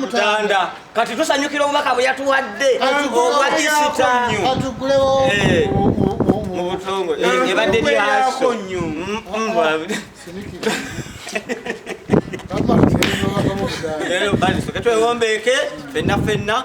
mutanda kati tusanyukira obubaka bwe yatuwadde obwa kisita ebadde lyaso twewombeeke fenna fenna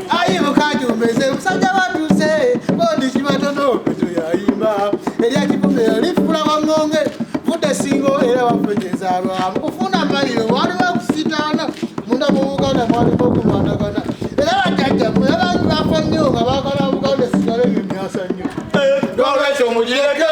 ayi mukajumbeze musajja batuse bodi kibatono peto yayimba erya kipume lifula waŋŋonge vudde singo era wafejezalwa mu kufuna maliro waliwo okusitaana munda mu buganda mwalimu okumatagana era bajjajja mwe abantu bafa nnyo nga baagala buganda esigale ebyo byasa nnyo eh, nolwekyo mugireke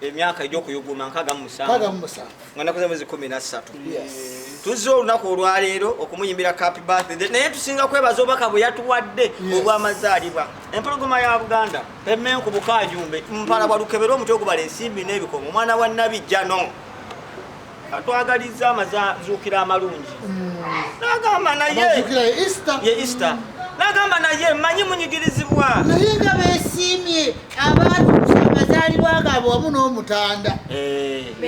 emyaka egyokuyuguma nkaga mumusanvu nga nakoze mwezi kumi nassatu tuzze olunaku olwaleero okumuyimbira capi birthday naye tusinga kwebaza obubaka bwe yatuwadde obwamazaalibwa empologoma ya buganda emenku bukajumbe mpala bwalukebera omutwe ogubala ensimbi n'ebikomo omwana wa nabi jano atwagalizza amazuukira amalungi nagamba naye easter nagamba naye manyi munyigirizibwa naye nga besiimye abantu amazaalibwa gaabwe wamu n'omutanda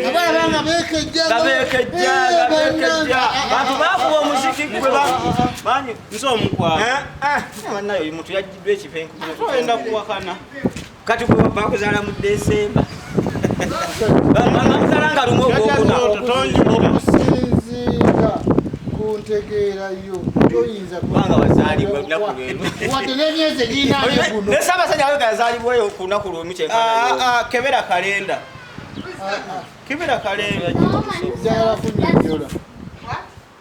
abalaba eh. nga bekejjabekejjabantu eh, bakuba omuziki gwe banyi nze omukwanaye eh, oyo muntu yajjidwa ekipenkuenda kuwakana kati gwe wava akuzala mu desemba bamuzala nga lumu ogwokunaokusinziira ku ntegeera yo toyinza kubanga wazaalibwa lunaku lwemwadde nemyezi egiinanesabasajja awe gazaalibweyo ku lunaku lwemu kyekebera kalenda kebera kalenda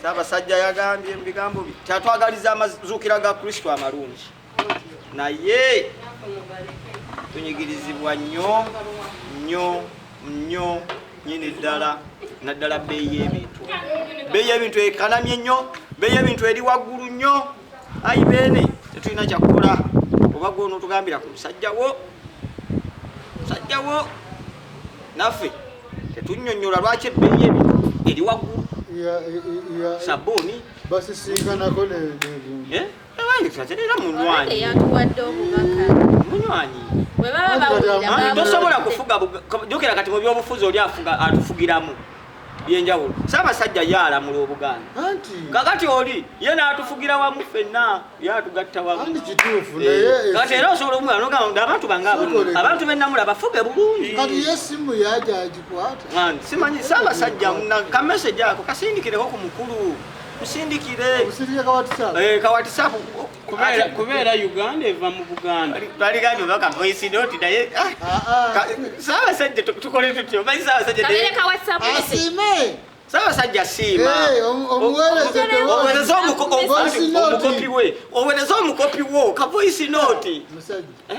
Ssaabasajja yagambye mu bigambo bye kyatwagaliza amazuukira ga Kristo amalungi, naye tunyigirizibwa nnyo nnyo nnyo nyini ddala naddala bbeeyi y'ebintu bbeeyi y'ebintu ekanamye nnyo bbeeyi y'ebintu eri waggulu nnyo ayi beene tetulina kyakukola oba gwe onotugambira ku musajja wo musajja wo naffe tetunyonyola lwaki ebbeeyi ebintu eri waggulu sabuuni basisiikanako eh? era munywanyi munywanyi tosobola kufuga jukira kati mu byobufuzi oli afuga atufugiramu byenjawulo ssaabasajja ye alamula obuganda kakati oli ye n'atufugira wamu ffenna ye atugatta wamukati eh, era osobola omugana nogamba nti abantu bange abantu bennamula bafuge bulungi simanyi ssaabasajja kameseji ako kasindikireko ku mukulu musindikire kawatisapu eh, kubeera uganda eva mu buganda twaligambe baka voice note naye ah, ah, ah. saabasajja tukole tutyo manyi saabasajjaasiime saabasajja siima owereza omukopi we owereza omukopi wo ka voice note eh?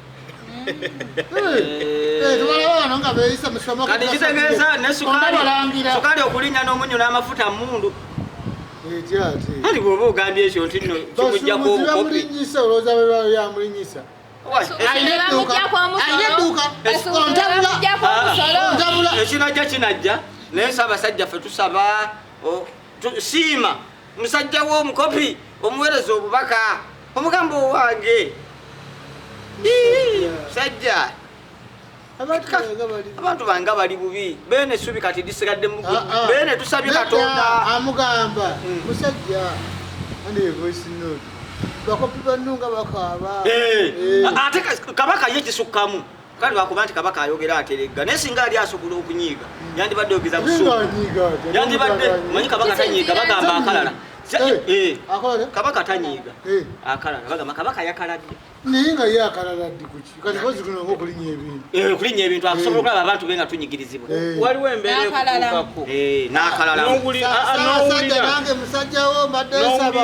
kati kitegeeza ne sukaali okulinnya n'omunyu n'amafuta mundu kati bwoba ogambye ekyo nti no kimujjako obukopi ekinajja kinajja naye ssaabasajja ffe tusaba siima musajja wo omukopi omuwereza obubaka omugamba owange musajja abantu banga bali bubi bene subi kati disigadde mu ah, ah. bene tusabye katonda amugamba hmm. musajja ande voice note bakopi banunga bakaba eh. eh. ate kabaka ye kisukkamu kale lwakuba nti kabaka ayogera ateregga naye singa ali asobola okunyiiga yandibadde yogeza busuyandibadde manyi kabaka tanyiiga bagamba akalala eh. Eh. kabaka tanyiiga eh. akalala bagamba kabaka yakaladde naye nga ye akalala ddi kuki kati kozi kuno nga okulinya ebintu okulinya ebintu akusobola okulaba abantu be nga tunyigirizibwa waliwo embeera ekutuukako n'akalala n'owulira nange musajjawo mbadde nsaba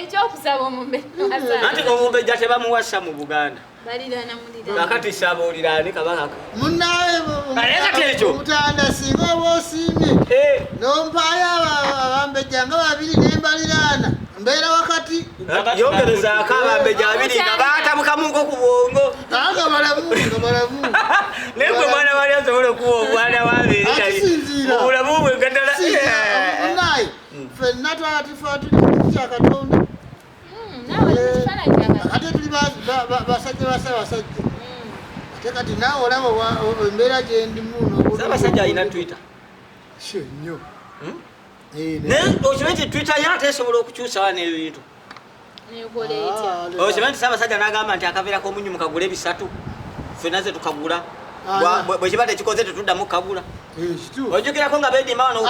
ekyokusaba omumbeanti omumbejja tebamuwasa mu buganda kakati saba oliraani kabakaka munaekati ekyo omutanda singa oba osiimye eh. nompaayo abambejja nga babiri nembaliraana mbeera wakati yongerezaako abambejja babiri nga batabukamuko ku bwongo aga balamu nga balamu naye gwe mwana wali asobola okuwa obwana wabiri obulamu bwe gadala hmm. fenna twatifa tuli kya katonda hmm, eh, ate tuli basajja basabasajja hmm. ate kati naawe olaba embeera gyendimusabasajja alina twitter sio nnyo naye okimanyi ti twitter ye ate esobola okukyusawa n'ebintu okimanyi nti saabasajja nagamba nti akaveera komunyu mukagula ebisatu fena ze tukagula bwekiba tekikoze tetuddamu kukagula ojukirako nga bedima wano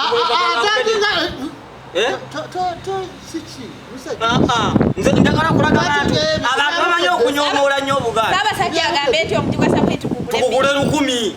nze njagala kulaga bantu abantu bamanyi okunyomoola nnyo obugaali tukugule lukumi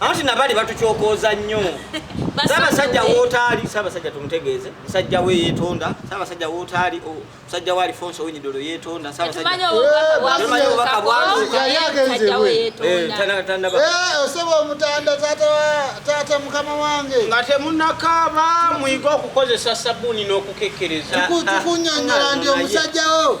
anti nabali batukyokooza nnyo sabasajja wotaali sabasajja tumutegeeze musajja we yetonda sabasajja wotaali musajja wa alifonso winyidolo yetonda sabasajjamanyi obubaka bwaosaba omutanda taata mukama wange nga temunakaaba muyige okukozesa sabuni n'okukekkereza tukunyonyola ndi omusajjawo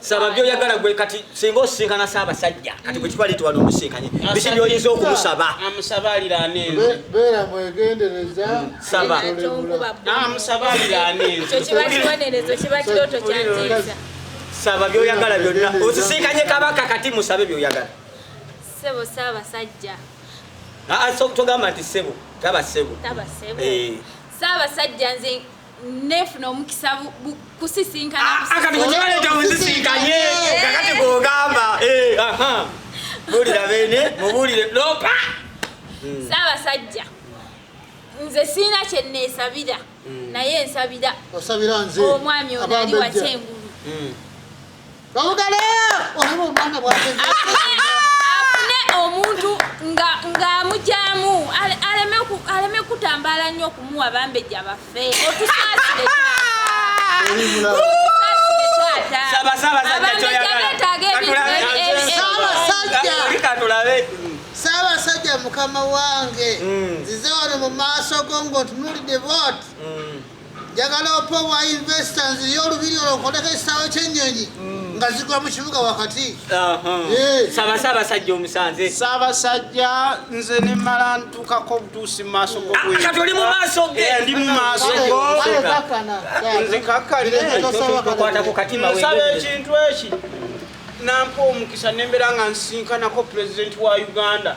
saba byoyagala gwe kati singa osisinkana saabasajja kati gwe kibali tiwali omusinkanye biki byoyinza okumusaba amusaba aliraana enze beera mwegendereza mm, saba amusaba aliraana enze kiba kibonerezo kiba kirooto kyantiisa saba byoyagala byonna osisinkanye kabaka kati musabe byoyagala sebo saabasajja togamba nti sebo taba sebo taba sebo eh. saabasajja nze nefuna omukisa kusisinkana ah, ah, kati kukibaleta musisinkanye eh. kakati kugamba eh, bulira bene mubulire lopa hmm. saabasajja nze siina kyeneesabira hmm. naye nsabira omwami ono ali wakyengulu hmm. afune omuntu ng'amugyamu aleme kutambala nnyo okumuwa bambejja baffe otusaasire saabasajja mukama wange mm. nzize wano mu maaso go ng'otunuulidde booti mm. njagala ope owa investors yo olubiri olwo nkoleko ekisaawe kyennyonyi mm. nga zigwa mu kibuga wakati eh. sabasaabasajja omusanze saabasajja nze nemala ntukako obutuusi mu maaso gokati ah, oli mu maaso ge eh, ndi mu maaso gonzikakkanekwata ku katima nsaba ekintu eki nampa omukisa nembeera nga nsinkanako pulezidenti wa uganda